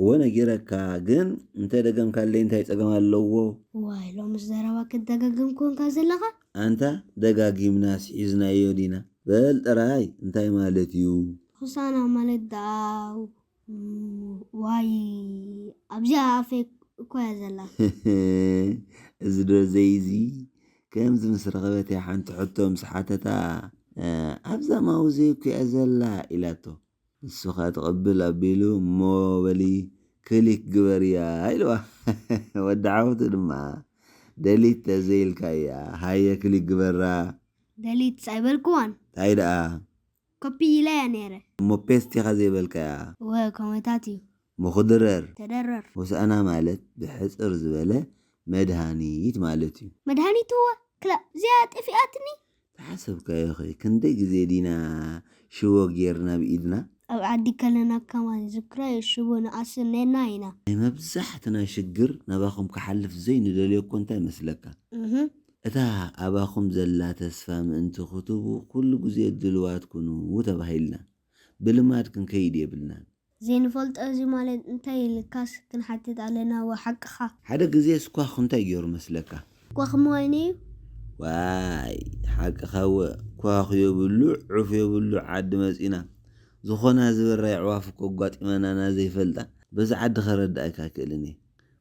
እወ ነጊረካ ግን እንተ ደገምካለይ እንታይ ጸገም ኣለዎ። ዋይ ሎምስ ዘረባ ክትደጋግም ኮንካ ዘለኻ። ኣንታ ደጋጊምናስ ሒዝናዮ ዲና በል ጥራይ እንታይ ማለት እዩ። ሆሳና ማለት ድኣ ዋይ ኣብዚ ኣብ ኣፈይ እኮ እያ ዘላ። እዚ ደርዘይ እዚ ከምዚ ምስ ረኸበት እያ ሓንቲ ሕቶ ምስ ሓተታ ኣብዛ ማውዘይ እኮ እያ ዘላ ኢላቶ። ንሱኸ ትቕብል ኣቢሉ እሞ በሊ ክሊክ ግበርያ ኢልዋ። ወዲ ዓወቱ ድማ ደሊት ተዘይኢልካያ ሃየ ክሊክ ግበራ። ደሊትስ ኣይበልክዋን። ታይ ደኣ። ኮፒ ኢለያ ነይረ። እሞ ፔስት ኢኻ ዘይበልካያ። እወ ኮመታት እዩ። ምኹድረር። ተደረር። ሆሳእና ማለት ብሕጽር ዝበለ መድሃኒት ማለት እዩ። መድሃኒት'ወ ክላእ እዚኣ ጠፊኣትኒ። ዝሓሰብካዮኸ ክንደይ ግዜ ዲና ሽቦ ጌርና ብ ኢድና? ኣብ ዓዲ ከለና ከማን ዝክራዮ ሽቦ ንኣስር ኔርና ኢና። ናይ መብዛሕትና ሽግር ናባኹም ክሓልፍ ዘይንደልዮ'ኮ እንታይ መስለካ? እታ ኣባኹም ዘላ ተስፋ ምእንቲ ክትህቡ ኩሉ ግዜ ድልዋት ኩኑ ተባሂልና። ብልማድ ክንከይድ የብልናን። ዘይንፈልጦ እዚ ማለት እንታይ ኢልካስ ክንሓትት ኣለና እወ ሓቅኻ። ሓደ ግዜ ስኳኽ እንታይ ጌሩ መስለካ? ስኳኽ ምዋይነ ዩ። ዋይ ሓቅኻ እወ ኳኽ የብሉ ዑፍ የብሉ ዓዲ መጺና ዝኾና ዝበራ የዕዋፍ እኮ ኣጓጢመናና ዘይፈልጣ በዚ ዓዲ ከረድኣካ ኣይክእልን እየ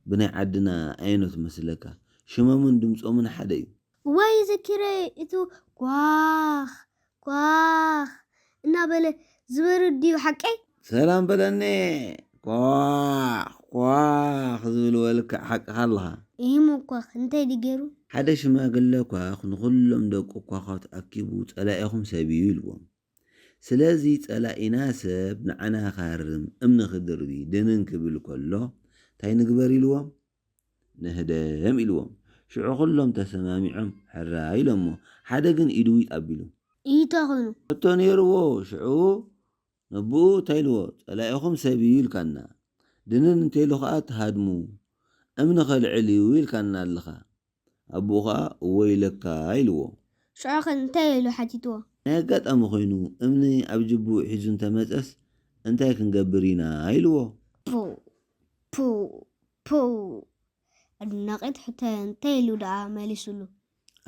ብናይ ዓድና ኣየኖት መስለካ ሽሞምን ድምጾምን ሓደ እዩ እዋይ ዘኪረዮ እቱ ኳኽ ኳኽ እናበለ ዝበርር ድዩ ሓቀይ? ሰላም በለኒ ኳኽ ኳኽ ዝብል ወልከዕ ሓቅኻ ኣለኻ። ኢሂሞ ኳኽ እንታይ ድዩ ገይሩ? ሓደ ሽማግለ ኳኽ ንኹሎም ደቁ ኳዃት ኣኪቡ ጸላኢኹም ሰብ'ዩ ኢልዎም። ስለዚ ጸላኢና ሰብ ንዓና ክሃርም እምኒ ክድርቢ ድንን ክብል ከሎ እንታይ ንግበር ኢልዎም? ንህደም ኢልዎም ሽዑ ኩሎም ተሰማሚዖም ሕራይ ኢሎሞ ሓደ ግን ኢዱ ዊጥ ኣቢሉ። ኢንተ ኮይኑ። ሕቶ ነይርዎ ሽዑ ነቡኡ እንታይ ኢልዎ ጸላኢኹም ሰብ ኢዩ ኢልካና ድንን እንተኢሉ ከኣ ትሃድሙ እምኒ ከልዕል ኢዩ ኢልካና ኣለኻ ኣቦኡ ኸኣ ወይለካ ኢልዎ። ሽዑ ኸ እንታይ ኢሉ ሓቲትዎ? ናይ ኣጋጣሚ ዀይኑ እምኒ ኣብ ጅብኡ ሒዙ እንተ መጸስ እንታይ ክንገብር ኢና? ኢልዎ። ፖው! ፖው! ፖው! ኣድናቒት ሕቶ እያ፣ እንታይ ኢሉ ደኣ መሊሱሉ?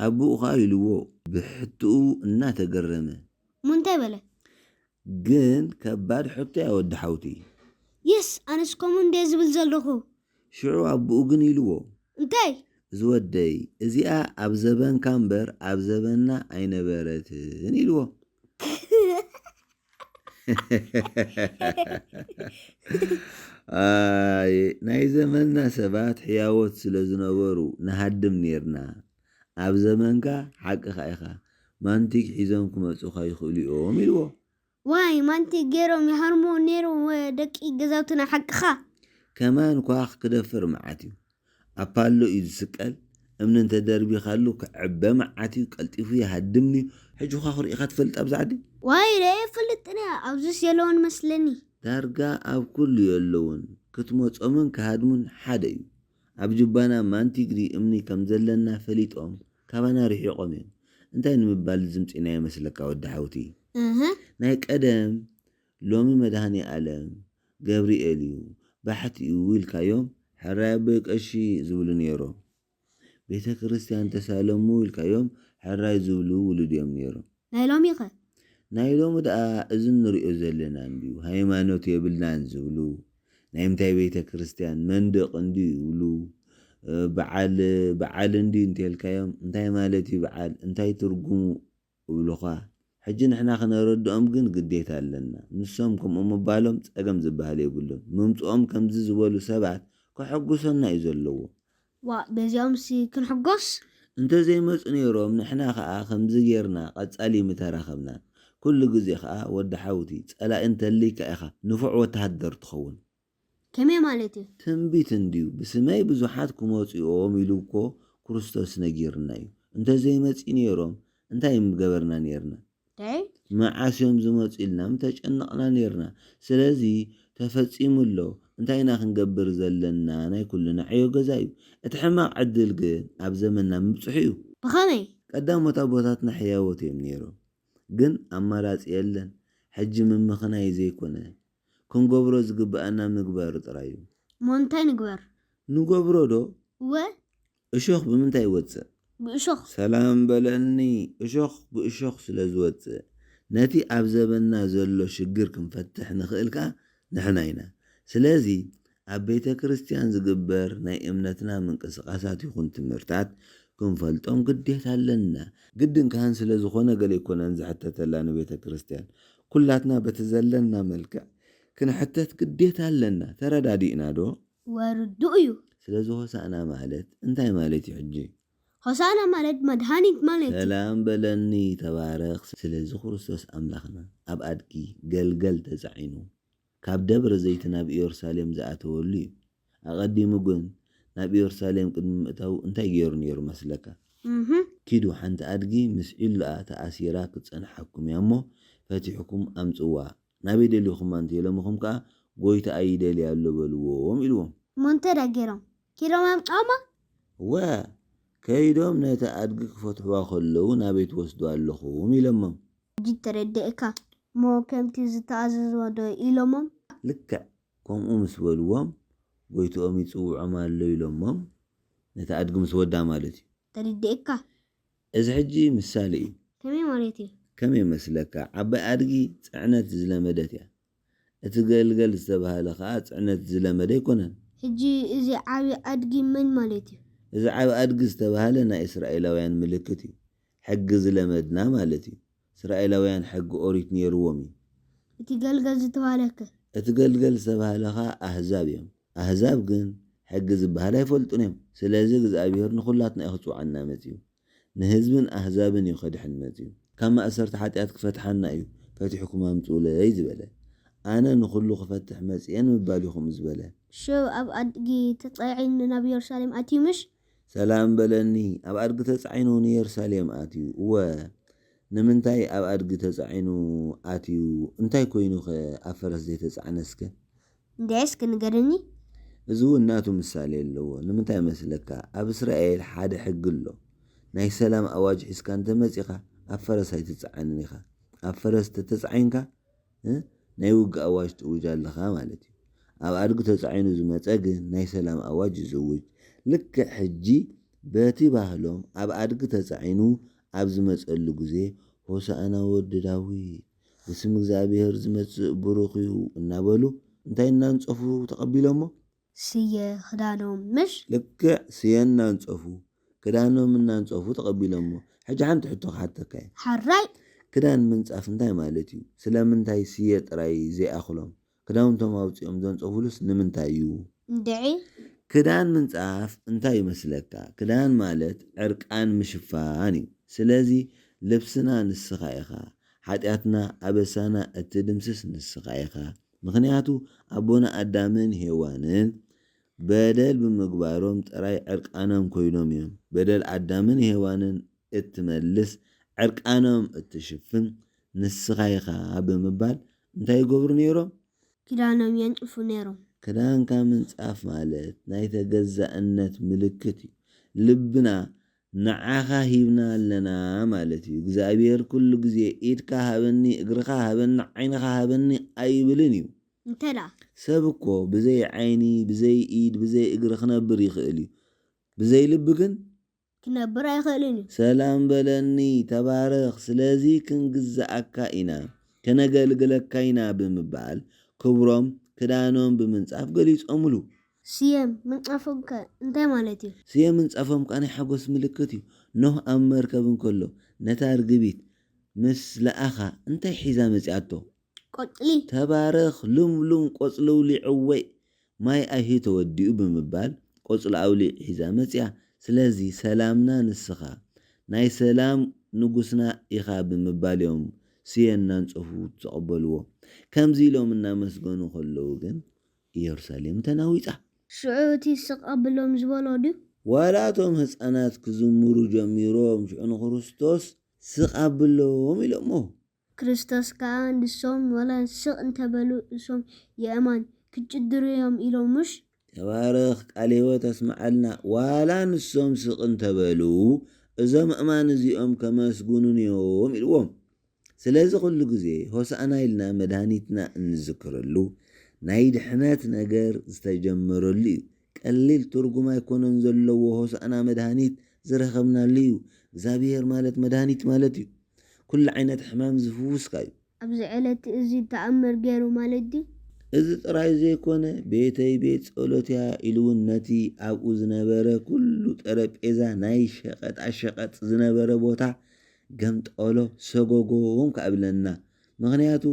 ኣቦኡ ኸኣ ኢልዎ ብሕቶኡ እናተገረመ። እሞ እንታይ በለ? ግን ከባድ ሕቶ እያ ወዲ ሓውቲ። የስ! ኣነስ ከምኡ እንድየ ዝብል ዘለኹ። ሽዑ ኣቦኡ ግን ኢልዎ። እንታይ? እዚ ወደይ፣ እዚኣ ኣብ ዘበንካ እምበር ኣብ ዘበንና ኣይነበረትን ኢልዎ። ኣየ ናይ ዘመንና ሰባት ሕያዎት ስለ ዝነበሩ ንሃድም ኔርና። ኣብ ዘመንካ ሓቅኻ ኢኻ፣ ማንቲግ ሒዞም ክመጹኻ ይኽእሉ እዮም ኢልዎ። ዋይ ማንቲግ ጌሮም ይሃርሙ ኔሮም ደቂ ገዛውትና ሓቅኻ። ከማን ኳኽ ክደፍር መዓት እዩ ኣፓሎ እዩ ዝስቀል እምኒ እንተ ደርቢኻሉ ክዕበ መዓት እዩ ቀልጢፉ ይሃድም ንዩ። ሕጂ ዃኽ ሪኢኻ ትፈልጥ ኣብዛ ዓዲ? ዋይ ሪኤ ኣይፈልጥን እየ ኣብዙስ የለውን መስለኒ። ዳርጋ ኣብ ኩሉ የለውን ክትመጾምን ክሃድሙን ሓደ እዩ ኣብ ጁባና ማንቲግሪ እምኒ ከም ዘለና ፈሊጦም ካባና ርሒቖም እዮም እንታይ ንምባል ዝምጺእናዮ መስለካ ወዲ ሓውቲ ናይ ቀደም ሎሚ መድሃኒኣለም ገብሪኤል እዩ ባሕቲ እዩ ኢልካዮም ሕራይ ኣቦይ ቀሺ ዝብሉ ኔሮም ቤተክርስትያን ተሳለሙ ኢልካዮም ሕራይ ዝብሉ ውሉድ እዮም ኔሮም ናይ ሎሚ ከ? ናይ ሎሚ ደኣ እዚ እንሪኦ ዘለና እንድዩ ሃይማኖት የብልናን ዝብሉ ናይ ምንታይ ቤተ ክርስትያን መንድቅ እንድዩ ይብሉ በዓል በዓል እንድዩ እንተልካዮም እንታይ ማለት እዩ በዓል እንታይ ትርጉሙ እብሉኻ ሕጂ ንሕና ክነረድኦም ግን ግዴታ ኣለና ንሶም ከምኡ ምባሎም ጸገም ዝበሃል የብሉን ምምጽኦም ከምዚ ዝበሉ ሰባት ከሐጉሰና እዩ ዘለዎ ዋእ በዚኦምሲ ክንሕጎስ። እንተዘይመጹ ኔሮም ንሕና ከኣ ከምዚ ጌርና ቀጻሊ ምተራኸብና። ኩሉ ግዜ ከኣ ወዲ ሓውቲ ጸላኢ እንተልይካ ኢኻ ንፉዕ ወተሃደር ትኸውን። ከመይ ማለት እዩ? ትንቢት እንድዩ ብስመይ ብዙሓት ክመጹ እዮም ኢሉ እኮ ክርስቶስ ነጊርና እዩ። እንተዘይመጺኡ ኔሮም እንታይ ምገበርና ኔርና። ደይ። መዓስ እዮም ዝመጹ ኢልና ምተጨነቕና ኔርና ስለዚ ተፈጺሙ ኣሎ እንታይ ኢና ክንገብር ዘለና ናይ ኩልና ዕዮ ገዛ እዩ እቲ ሕማቕ ዕድል ግን ኣብ ዘመንና ምብጽሑ እዩ። ብኸመይ? ቀዳሞት ኣቦታትና ሕያዎት እዮም ኔሮም ግን ኣማራጺ የለን ሕጂ ምምኽናይ ዘይኮነ ክንገብሮ ዝግበኣና ምግባር ጥራይ እዩ። እሞ እንታይ ንግበር? ንገብሮ ዶ? እወ እሾኽ ብምንታይ ይወጽእ? ብእሾኽ። ሰላም በለኒ እሾኽ ብእሾኽ ስለ ዝወጽእ ነቲ ኣብ ዘበንና ዘሎ ሽግር ክንፈትሕ ንኽእል ከኣ ንሕና ኢና ስለዚ ኣብ ቤተ ክርስትያን ዝግበር ናይ እምነትና ምንቅስቃሳት ይኹን ትምህርታት ክንፈልጦም ግዴታ ኣለና ግድን ካህን ስለ ዝኾነ ገለ ኣይኮነን ዝሕተተላ ንቤተ ክርስትያን ኩላትና በቲ ዘለና መልክዕ ክንሕተት ግዴታ ኣለና ተረዳዲእና ዶ? ወርዱ እዩ። ስለዚ ሆሳእና ማለት እንታይ ማለት እዩ ሕጂ? ሆሳእና ማለት መድሃኒት ማለት እዩ። ሰላም በለኒ ተባረኽ ስለዚ ክርስቶስ ኣምላኽና ኣብ ኣድጊ ገልገል ተጻዒኑ ካብ ደብረ ዘይቲ ናብ ኢዮርሳሌም ዝኣተወሉ እዩ። ኣቐዲሙ ግን ናብ ኢዮርሳሌም ቅድሚ ምእታዉ እንታይ ጌሩ ኔሩ መስለካ? ኪዱ ሓንቲ ኣድጊ ምስ ዒሉኣ ተኣሲራ ክትጸንሓኩም እያ እሞ ፈቲሕኩም ኣምጽዋ ናበይ ደሊኹም ኣንተ ሎምኹም ከኣ ጎይታኣ ይደሊ ኣሎ በልዎም ኢልዎም። እሞ እንተ ደኣ ገይሮም ኪዶም ኣምጽኦማ። እወ ከይዶም ነታ ኣድጊ ክፈትሑዋ ከለዉ ናበይ ትወስዱዋ ኣለኹም ኢሎሞም። ሕጂ ተረዲኤካ እሞ ከምቲ ዝተኣዘዝዋ ዶ ኢሎሞም። ልክዕ ከምኡ ምስ በልዎም ጎይትኦም ይጽውዖም ኣሎ ኢሎሞም ነታ ኣድጊ ምስ ወዳ ማለት እዩ። ተረዲኤካ። እዚ ሕጂ ምሳሌ እዩ። ከመይ ማለት እዩ? ከም የመስለካ ዓባይ ኣድጊ ጽዕነት ዝለመደት እያ። እቲ ገልገል ዝተባህለ ከኣ ጽዕነት ዝለመደ ኣይኮነን። ሕጂ እዚ ዓቢ ኣድጊ መን ማለት እዩ? እዚ ዓቢ ኣድጊ ዝተባህለ ናይ እስራኤላውያን ምልክት እዩ። ሕጊ ዝለመድና ማለት እዩ። እስራኤላውያን ሕጊ ኦሪት ኔርዎም እዩ። እቲ ገልገል ዝተባህለ ከ? እቲ ገልገል ዝተባህለ ከኣ ኣህዛብ እዮም። ኣህዛብ ግን ሕጊ ዝበሃል ኣይፈልጡን እዮም። ስለዚ እግዝኣብሄር ንኹላትና እዩ ክጽውዓና መጺኡ። ንህዝብን ኣህዛብን እዩ ከድሕን መጺኡ። ካብ ማእሰርቲ ሓጢኣት ክፈትሓና እዩ ፈቲሕኩም ኣምጽኡለይ ዝበለ። ኣነ ንኹሉ ክፈትሕ መጺኤ ንምባል እዩ ከምኡ ዝበለ። ሽዑ ኣብ ኣድጊ ተጻዒኑ ናብ የሩሳሌም ኣትዩ ምሽ ሰላም በለኒ፣ ኣብ ኣድጊ ተጻዒኑ ንየሩሳሌም ኣትዩ። እወ፣ ንምንታይ ኣብ ኣድጊ ተጻዒኑ ኣትዩ? እንታይ ኰይኑኸ ኣብ ፈረስ ዘይተጻዕነስከ? እንድዒ እስኪ ንገርኒ። እዚ እውን ናቱ ምሳሌ ኣለዎ። ንምንታይ መስለካ? ኣብ እስራኤል ሓደ ሕጊ ኣሎ፣ ናይ ሰላም ኣዋጅ ሒዝካ እንተ መጺኻ ኣብ ፈረስ ኣይትጽዓንን ኢኻ። ኣብ ፈረስ እንተ ተጻዒንካ ናይ ውግእ ኣዋጅ ትእውጅ ኣለኻ ማለት እዩ። ኣብ ኣድጊ ተጻዒኑ ዝመጸ ግን ናይ ሰላም ኣዋጅ እዩ ዝእውጅ። ልክዕ ሕጂ በቲ ባህሎም ኣብ ኣድጊ ተጻዒኑ ኣብ ዝመጸሉ ግዜ ሆሳእና ወዲ ዳዊት፣ ብስም እግዚኣብሄር ዝመጽእ ብሩኽ እዩ እናበሉ እንታይ እናንጸፉ ተቐቢሎሞ? ስየ ክዳኖም ምሽ። ልክዕ ስየ እናንጸፉ ክዳኖም እናንጸፉ ተቐቢሎሞ። ሕጂ ሓንቲ ሕቶ ክሓተካ እየ። ሐራይ። ክዳን ምንጻፍ እንታይ ማለት እዩ? ስለምንታይ ስየ ጥራይ ዘይኣኽሎም? ክዳውንቶም ኣውጺኦም ዘንጸፉሉስ ንምንታይ እዩ? እንድዒ። ክዳን ምንጻፍ እንታይ እዩ መስለካ? ክዳን ማለት ዕርቃን ምሽፋን እዩ። ስለዚ ልብስና ንስኻ ኢኻ። ሓጢኣትና ኣበሳና እትድምስስ ንስኻ ኢኻ። ምኽንያቱ ኣቦና ኣዳምን ሄዋንን በደል ብምግባሮም ጥራይ ዕርቃኖም ኮይኖም እዮም። በደል ኣዳምን ሄዋንን እትመልስ ዕርቃኖም እትሽፍን ንስኻ ኢኻ ብምባል እንታይ ይገብሩ ነይሮም? ክዳኖም የንጽፉ ነይሮም። ክዳንካ ምንጻፍ ማለት ናይ ተገዛእነት ምልክት እዩ። ልብና ንዓኻ ሂብና ኣለና ማለት እዩ። እግዚኣብሄር ኩሉ ግዜ ኢድካ ሃበኒ፣ እግርኻ ሃበኒ፣ ዓይንኻ ሃበኒ ኣይብልን እዩ። እንተላ። ሰብ እኮ ብዘይ ዓይኒ፣ ብዘይ ኢድ፣ ብዘይ እግሪ ክነብር ይኽእል እዩ። ብዘይ ልቢ ግን። ክነብር ኣይኽእልን እዩ። ሰላም በለኒ፣ ተባረኽ፣ ስለዚ ክንግዝኣካ ኢና፣ ከነገልግለካ ኢና ብምባል ክብሮም ክዳኖም ብምንጻፍ ገሊጾምሉ። ስየ ምንጻፎምከ እንታይ ማለት እዩ? ስየ ምንጻፎም ከኣ ናይ ሓጐስ ምልክት እዩ። ኖህ ኣብ መርከብ እንከሎ ነታ ርግቢት ምስ ለኣኻ እንታይ ሒዛ መጺኣቶ? ቆጽሊ። ተባረኽ ልምሉም ቆጽሊ ኣውሊዕወይ ማይ ኣይሂ ተወዲኡ ብምባል ቆጽሊ ኣውሊዕ ሒዛ መጺኣ። ስለዚ ሰላምና ንስኻ ናይ ሰላም ንጉስና ኢኻ ብምባል እዮም ስየ እናንጸፉ ዝተቐበልዎ። ከምዚ ኢሎም እናመስገኑ ከለዉ ግን ኢየሩሳሌም ተናዊጻ። ሽዑ እቲ ስቕ ኣብሎም ዝበሎ ድዩ? ዋላ እቶም ህጻናት ክዝምሩ ጀሚሮም ሽዑ ንክርስቶስ ስቕ ኣብሎም ኢሎሞ። ክርስቶስ ከኣ ንሶም ዋላ ስቕ እንተ በሉ እሶም የእማን ክጭድሩ እዮም ኢሎም ምሽ? ተባረኽ ቃል ህይወት ኣስምዓልና ዋላ ንሶም ስቕ እንተ በሉ እዞም ኣእማን እዚኦም ከመስግኑኒ እዮም ኢልዎም። ስለዚ ኩሉ ግዜ ሆሳእና ኢልና መድሃኒትና እንዝክረሉ ናይ ድሕነት ነገር ዝተጀመረሉ እዩ ቀሊል ትርጉም ኣይኮነን ዘለዎ ሆሳእና መድሃኒት ዝረከብናሉ እዩ እግዛብሄር ማለት መድሃኒት ማለት እዩ ኩሉ ዓይነት ሕማም ዝፍውስካ እዩ። ኣብዚ ዕለት እዚ ተኣምር ገይሩ ማለት ድዩ? እዚ ጥራይ ዘይኮነ ቤተይ ቤት ጸሎት እያ ኢሉውን ነቲ ኣብኡ ዝነበረ ኩሉ ጠረጴዛ ናይ ሸቀጣ ሸቀጥ ዝነበረ ቦታ ገምጠሎ ሰጎጎ ውን ከኣ እብለና ምክንያቱ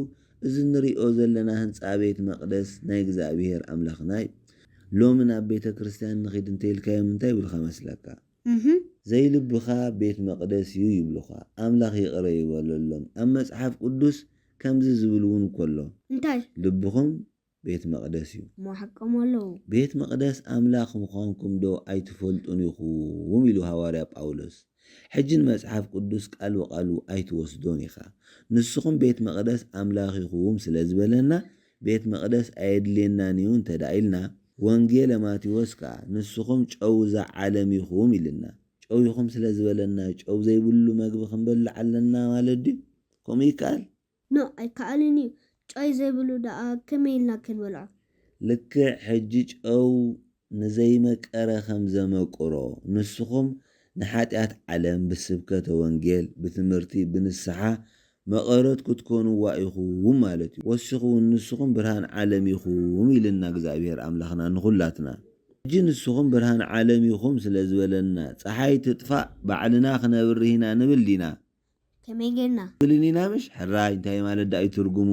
እዚ እንሪኦ ዘለና ህንጻ ቤት መቅደስ ናይ እግዝኣብሄር ኣምላክና ዩ ሎሚ ናብ ቤተ ክርስትያን ንኪድ እንተኢልካዮም እንታይ ይብሉካ መስለካ እህ ዘይልብካ ቤት መቅደስ ዩ ይብሉካ ኣምላክ ይቅረ ይበለሎም ኣብ መጽሓፍ ቅዱስ ከምዚ ዝብል ውን እኮ ኣሎ እንታይ። ልብኩም ቤት መቕደስ እዩ። እሞ ሓቆም ኣለዉ። ቤት መቕደስ ኣምላኽ ምዃንኩም ዶ ኣይትፈልጡን ኢኹም? ኢሉ ሃዋርያ ጳውሎስ። ሕጂ ንመጽሓፍ ቅዱስ ቃል ብቓሉ ኣይትወስዶን ኢኻ። ንስኹም ቤት መቕደስ ኣምላኽ ኢኹም ስለ ዝበለና ቤት መቕደስ ኣየድልየናን እዩ እንተድኣ ኢልና፣ ወንጌለ ማቴዎስ ከኣ ንስኹም ጨው እዛ ዓለም ኢኹም ኢልና፣ ጨው ኢኹም ስለ ዝበለና ጨው ዘይብሉ መግቢ ክንበልዕ ኣለና ማለት ድዩ? ከምኡ ይከኣል? No ኣይከኣልን እዩ ጨይ ዘይብሉ ደኣ ከመይ ኢልና ክንበልዖ። ልክዕ ሕጂ ጨው ንዘይመቀረ ከም ዘመቅሮ ንስኹም ንሓጢኣት ዓለም ብስብከተ ወንጌል ብትምህርቲ ብንስሓ መቐረት ክትኮንዋ ኢኹም ማለት እዩ ወሲኹ ውን ንስኹም ብርሃን ዓለም ኢኹም ኢልና እግዝኣብሄር ኣምላኽና ንኹላትና ሕጂ ንስኹም ብርሃን ዓለም ኢኹም ስለ ዝበለና ጸሓይ ትጥፋእ ባዕልና ክነብርህ ኢና ንብል ዲና? ከመይ ጌርና? በሉኒ ናበሽ ሕራይ እንታይ ማለት ደኣ እዩ ትርጉሙ?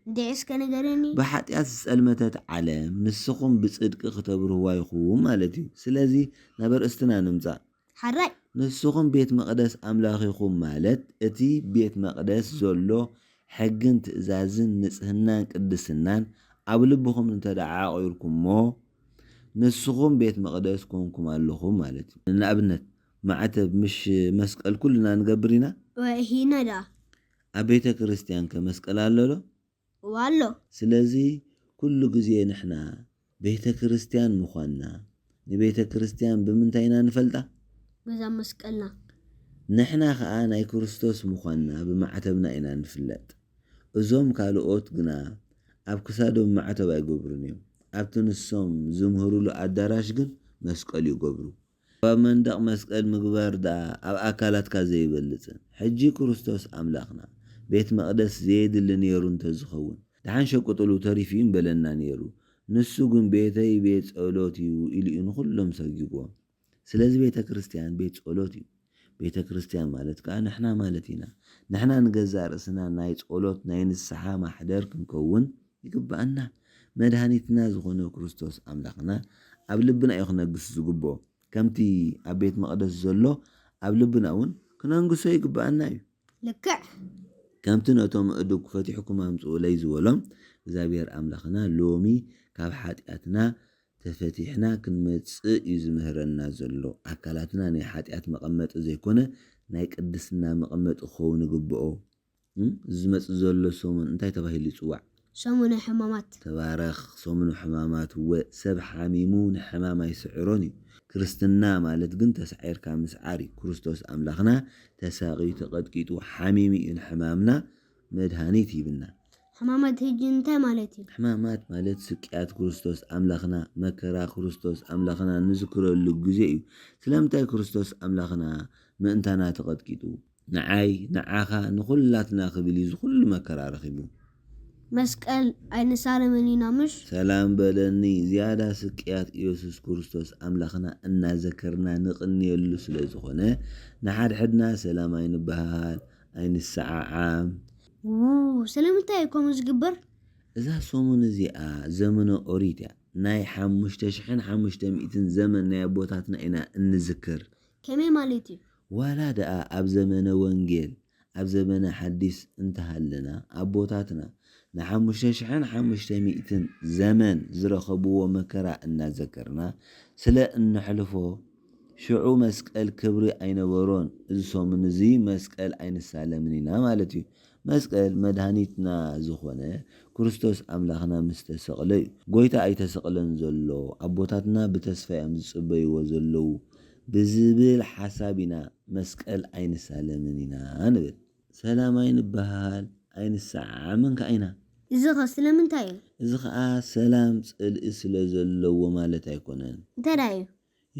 እንድዒ እስከ ንገረኒ? ብሓጢኣት ዝጸልመተት ዓለም ንስኹም ብጽድቂ ክተብርህዋ ኢኹም ማለት እዩ። ስለዚ ናብ ኣርእስትና ንምጻእ። ሐራይ። ንስኹም ቤት መቕደስ ኣምላኽ ኢኹም ማለት እቲ ቤት መቕደስ ዘሎ ሕግን ትእዛዝን ንጽህናን ቅድስናን ኣብ ልብኹም እንተደኣ ዓቚርኩሞ ንስኹም ቤት መቕደስ ኰንኩም ኣለኹም ማለት እዩ። ንኣብነት ማዕተብ ምሽ መስቀል ኩልና ንገብር ኢና? ወሂና ደኣ? ኣብ ቤተ ክርስትያን ከ መስቀል ኣሎ ዶ? እወ ኣሎ። ስለዚ ኩሉ ግዜ ንሕና ቤተ ክርስትያን ምዃንና ንቤተ ክርስትያን ብምንታይ ኢና ንፈልጣ? በዛ መስቀልና። ንሕና ከኣ ናይ ክርስቶስ ምዃንና ብማዕተብና ኢና ንፍለጥ። እዞም ካልኦት ግና ኣብ ክሳዶም ማዕተብ ኣይገብሩን እዮም። ኣብቲ ንሶም ዝምህሩሉ ኣዳራሽ ግን መስቀል ይገብሩ። ካብ መንደቕ መስቀል ምግባር ደኣ ኣብ ኣካላትካ ዘይበልጽን ሕጂ ክርስቶስ ኣምላኽና ቤት መቕደስ ዘየድሊ ኔሩ እንተ ዝኸውን ደሓን ሸቅጥሉ ተሪፉ እዩ ምበለና ኔሩ ንሱ ግን ቤተይ ቤት ጸሎት እዩ ኢሉ እዩ ንኹሎም ሰጊግዎም ስለዚ ቤተ ክርስትያን ቤት ጸሎት እዩ ቤተ ክርስትያን ማለት ከኣ ንሕና ማለት ኢና። ንሕና ንገዛእ ርእስና ናይ ጸሎት ናይ ንስሓ ማሕደር ክንከውን ይግብኣና። መድሃኒትና ዝኾነ ክርስቶስ ኣምላኽና ኣብ ልብና እዩ ክነግስ ዝግብኦ። ከምቲ ኣብ ቤት መቕደስ ዘሎ ኣብ ልብና እውን ክነንግሶ ይግብኣና እዩ። ልክዕ። ከምቲ ነቶም እዱግ ፈቲሕኩም ኣምጽኡለይ ዝበሎም እግዚኣብሔር ኣምላኽና ሎሚ ካብ ሓጢኣትና ተፈቲሕና ክንመጽእ እዩ ዝምህረና ዘሎ። ኣካላትና ናይ ሓጢኣት መቐመጢ ዘይኮነ ናይ ቅድስና መቐመጢ ክኸውን ይግብኦ። እዚ ዝመጽእ ዘሎ ሰሙን እንታይ ተባሂሉ ይጽዋዕ? ሰሙነ ሕማማት። ተባረኽ! ሰሙነ ሕማማት እወ፣ ሰብ ሓሚሙ ንሕማም ኣይስዕሮን እዩ። ክርስትና ማለት ግን ተሳዒርካ ምስዓር እዩ። ክርስቶስ ኣምላኽና ተሳቕዩ፣ ተቐጥቂጡ፣ ሓሚሙ እዩ ንሕማምና መድሃኒት ሂብና። ሕማማት ህጂ እንታይ ማለት እዩ? ሕማማት ማለት ስቅያት ክርስቶስ ኣምላኽና፣ መከራ ክርስቶስ ኣምላኽና ንዝክረሉ ግዜ እዩ። ስለምንታይ ክርስቶስ ኣምላኽና ምእንታና ተቐጥቂጡ? ንዓይ፣ ንዓኻ፣ ንኹላትና ክብል እዩ እዚ ኩሉ መከራ ረኺቡ። መስቀል ኣይንሳለምን ኢና ምሽ? ሰላም በለኒ ዝያዳ ስቅያት ኢየሱስ ክርስቶስ ኣምላኽና እናዘከርና ንቕንየሉ ስለዝኾነ ንሓድሕድና ሰላም ኣይንበሃሃል፣ ኣይንሰዓዓም። ዉው ስለምንታይ እዩ ከምኡ ዝግበር? እዛ ሰሙን እዚኣ ዘመነ ኦሪት እያ። ናይ ሓሙሽተ ሽሕን ሓሙሽተ ሚእትን ዘመን ናይ ኣቦታትና ኢና እንዝክር። ከመይ ማለት እዩ? ዋላ ደኣ ኣብ ዘመነ ወንጌል ኣብ ዘመነ ሓዲስ እንተሃለና ኣቦታትና ንሓሙሽተ ሽሕን ሓሙሽተ ሚእትን ዘመን ዝረኸብዎ መከራ እናዘከርና ስለ እነሕልፎ ሽዑ መስቀል ክብሪ ኣይነበሮን፣ እዚ ሰሙን እዚ መስቀል ኣይንሳለምን ኢና ማለት እዩ። መስቀል መድሃኒትና ዝኾነ ክርስቶስ ኣምላኽና ምስ ተሰቕለ እዩ። ጎይታ ኣይተሰቕለን ዘሎ፣ ኣቦታትና ብተስፋ እዮም ዝጽበይዎ ዘለዉ ብዝብል ሓሳብ ኢና መስቀል ኣይንሳለምን ኢና ንብል። ሰላም ኣይንበሃሃል፣ ኣይንሰዓዓምን ከኣ ኢና። እዚኸ ስለምንታይ እዩ? እዚ ኸኣ ሰላም ጽልኢ ስለ ዘለዎ ማለት ኣይኮነን። እንተድኣ እዩ፣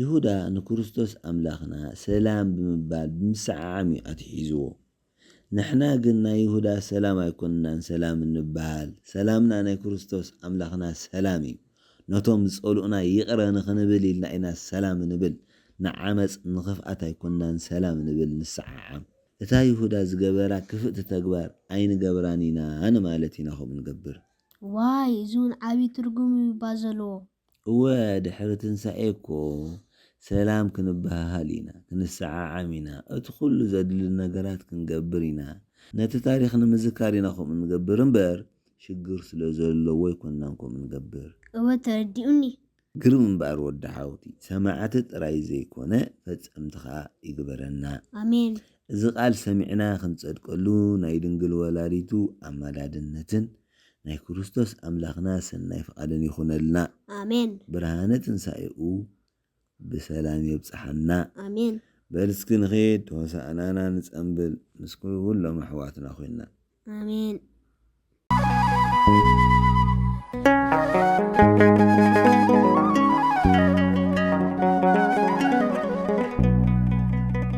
ይሁዳ ንክርስቶስ ኣምላኽና ሰላም ብምባል ብምስዕዓም እዩ ኣትሒዝዎ። ንሕና ግን ናይ ይሁዳ ሰላም ኣይኮንናን ሰላም እንበሃል፣ ሰላምና ናይ ክርስቶስ ኣምላኽና ሰላም እዩ። ነቶም ዝጸልኡና ይቕረ ንኽንብል ኢልና ኢና ሰላም እንብል፣ ንዓመጽ ንኽፍኣት ኣይኮንናን ሰላም እንብል ንስዓዓም። እታ ይሁዳ ዝገበራ ክፍእቲ ተግባር ኣይንገብራን ኢና ንማለት ኢና ከምኡ ንገብር። ዋይ እዚ ውን ዓቢ ትርጉም እዩ'ባ ዘለዎ። እወ ድሕሪ ትንሳኤ እኮ ሰላም ክንበሃሃል ኢና፣ ክንሰዓዓም ኢና፣ እቲ ኩሉ ዘድሊ ነገራት ክንገብር ኢና፣ ነቲ ታሪኽ ንምዝካር ኢና ከምኡ ንገብር እምበር ሽግር ስለ ዘለዎ ኣይኮናን ከምኡ ንገብር። እወ ተረዲኡኒ። ግርም እምበኣር ወዲ ሓውቲ ሰማዕቲ ጥራይ ዘይኮነ ፈጸምቲ ከኣ ይግበረና። ኣሜን። እዚ ቃል ሰሚዕና ክንጸድቀሉ ናይ ድንግል ወላዲቱ ኣማላድነትን፣ ናይ ክርስቶስ ኣምላኽና ሰናይ ፍቓድን ይኹነልና። ኣሜን። ብርሃነ ትንሳኤኡ ብሰላም የብጽሓና። ኣሜን። በል እስኪ ንኺድ ሆሳእናና ንጸምብል ምስ ኩሎም ኣሕዋትና ኮይና። ኣሜን።